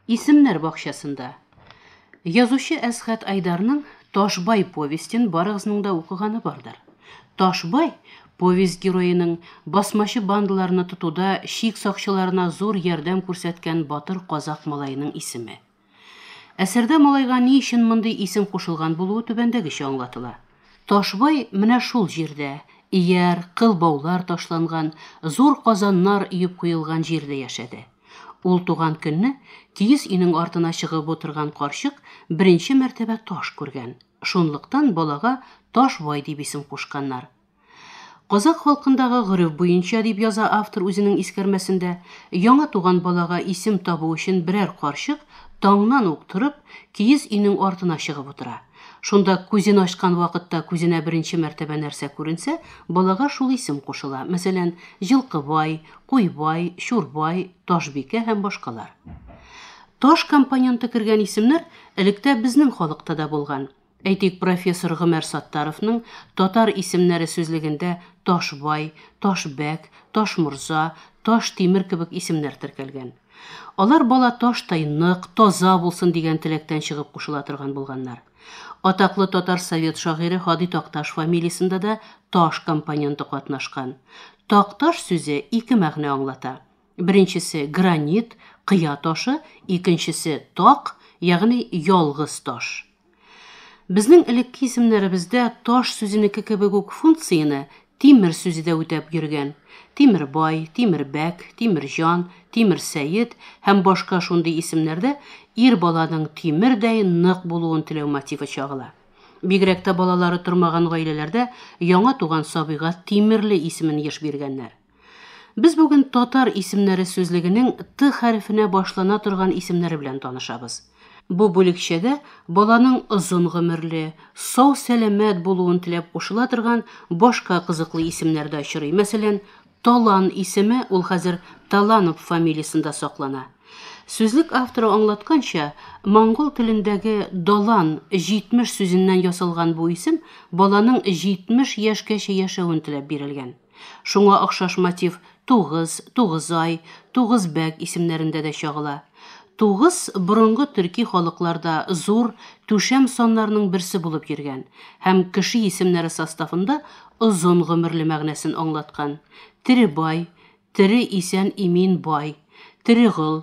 Исемнәр бакчасында. Язучы Әсхәт Айдарның Ташбай повестен барыгызның да укыганы бардыр. Ташбай повесть героеның басмачы бандаларны тотуда шик сакчыларына зур ярдәм күрсәткән батыр казак малаеның исеме. Әсәрдә малайга ни өчен мондый исем кушылган булуы түбәндәгечә аңлатыла. Ташбай менә шул җирдә, ияр, кыл баулар ташланган, зур казаннар өеп куелган җирдә яшәде. Ул туган көнне киез өйнең артына чыгып утырган карчык беренче мәртәбә таш күргән. Шунлыктан балага Ташбай дип исем кушканнар. Казакъ халкындагы гореф буенча, дип яза автор үзенең искәрмәсендә, яңа туган балага исем табу өчен берәр карчык таңнан ук торып, киез өйнең артына чыгып утыра. Шунда күзен ачкан вакытта күзенә беренче мәртәбә нәрсә күренсә, балага шул исем кушыла, мәсәлән, Җылкыбай, Куйбай, Чурбай, Ташбикә һәм башкалар. Таш компоненты кергән исемнәр электә безнең халыкта да булган. Әйтик, профессор Гомәр Саттаровның татар исемнәре сүзлегендә Ташбай, Ташбәк, Ташморза, Таш Тимер кебек исемнәр теркәлгән. Алар бала таштай нык, таза булсын дигән теләктән чыгып кушыла торган булганнар. Атаклы татар совет шагыйре Һади Такташ фамилиясендә дә Таш компоненты катнашкан. Такташ сүзе ике мәгънә аңлата. Беренчесе, гранит, кыя ташы, икенчесе, так, ягъни ялгыз таш. Безнең элекке исемнәребездә таш сүзенеке кебек үк функцияне тимер сүзе дә үтәп йөргән. Тимербай, Тимербәк, Тимерҗан, Тимерсәет һәм башка шундый исемнәрдә ир баланың тимердәй нык булуын теләү мотивы чагыла. Бигрәк тә балалары тормаган гаиләләрдә яңа туган сабыйга Тимерле исемен еш биргәннәр. Без бүген татар исемнәре сүзлегенең Т хәрефенә башлана торган исемнәре белән танышабыз. Бу бүлекчәгә баланың озын гомерле, сау сәламәт булуын теләп кушыла торган башка кызыклы исемнәр дә очрый. Мәсәлән, Талан исеме ул хәзер Таланов фамилиясендә саклана. Сүзлек авторы аңлатканча, монгол телендәге Далан 70 сүзеннән ясалган бу исем баланың 70 яшькәчә яшәвен теләп бирелгән. Шуңа охшаш мотив Тугыз, Тугызай, Тугызбәк исемнәрендә дә чагыла. Тугыз борынгы төрки халыкларда зур, түшәм саннарның берсе булып йөргән һәм кеше исемнәре составында озын гомерле мәгънәсен аңлаткан. Теребай, тере исән-имин бай, Терегол,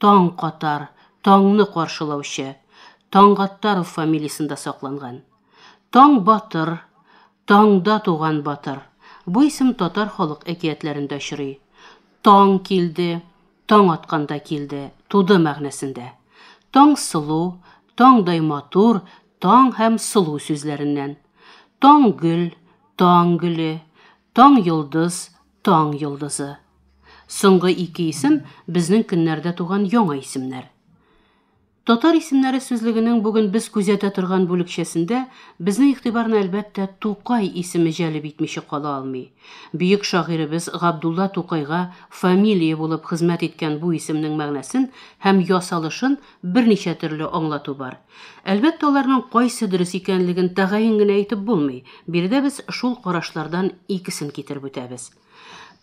Таң катар, таңны каршылаучы, Таңгаттаров фамилиясендә сакланган. Таң батыр, таңда туган батыр, бу исем татар халык әкиятләрендә очрый. Таң килде, таң атканда килде, туды мәгънәсендә. Таңсылу, таңдай матур, таң һәм сылу сүзләреннән. Таң гөл, таң гөле, таң йолдыз, Таң йолдызы. Соңгы ике исем безнең көннәрдә туган яңа исемнәр. Татар исемнәре сүзлегенең бүген без күзәтә торган бүлекчәсендә безнең игътибарны әлбәттә Тукай исеме җәлеп итмичә кала алмый. Бөек шагыйребез Габдулла Тукайга фамилия булып хезмәт иткән бу исемнең мәгънәсен һәм ясалышын Берничә төрле аңлату бар. Әлбәттә, аларның кайсы дөрес икәнлеген тәгаен генә әйтеп булмый. Биредә без шул карашлардан икесен китереп үтәбез.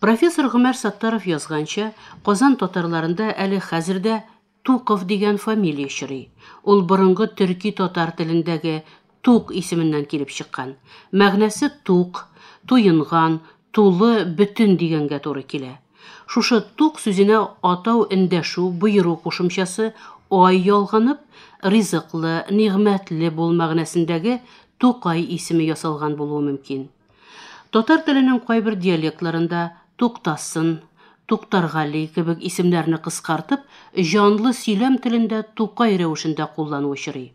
Профессор Гомәр Саттаров язганча, Казан татарларында әле хәзер дә Туков дигән фамилия чорый. Ул борынгы төрки-татар телендәге Тук исеменнән килеп чыккан. Мәгънәсе тук, туенган, тулы, бөтен дигәнгә туры килә. Шушы тук сүзенә атау эндәшү, боеру кушымчасы, ай ялганып, ризыклы, нигъмәтле бул мәгънәсендәге Тукай исеме ясалган булуы мөмкин. Татар теленең кайбер диалектларында Туктасын, Туктаргали кебек исемнәрне кыскартып, җанлы сөйләм телендә Тукай рәвешендә куллану очрый.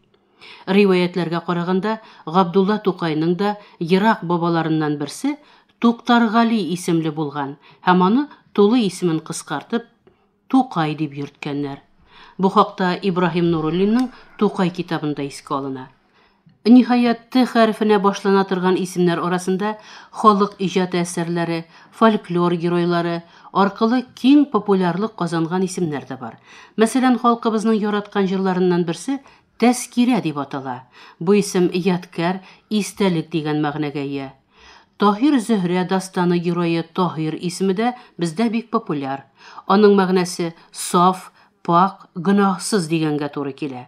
Риваятьләргә караганда, Габдулла Тукайның да ерак бабаларыннан берсе Туктаргали исемле булган һәм аны тулы исемен кыскартып, Тукай дип йөрткәннәр. Бу хакта Ибраһим Нуруллинның Тукай китабында искә алына. Ниһаять, Т хәрефенә башлана торган исемнәр арасында халык иҗаты әсәрләре, фольклор геройлары аркылы киң популярлык казанган исемнәр дә бар. Мәсәлән, халкыбызның яраткан җырларыннан берсе, Тәзкирә дип атала. Бу исем ядкәр, истәлек дигән мәгънәгә ия. Таһир-Зөһрә дастаны герое Таһир исеме дә бездә бик популяр. Аның мәгънәсе, саф, пакь, гөнаһсыз дигәнгә туры килә.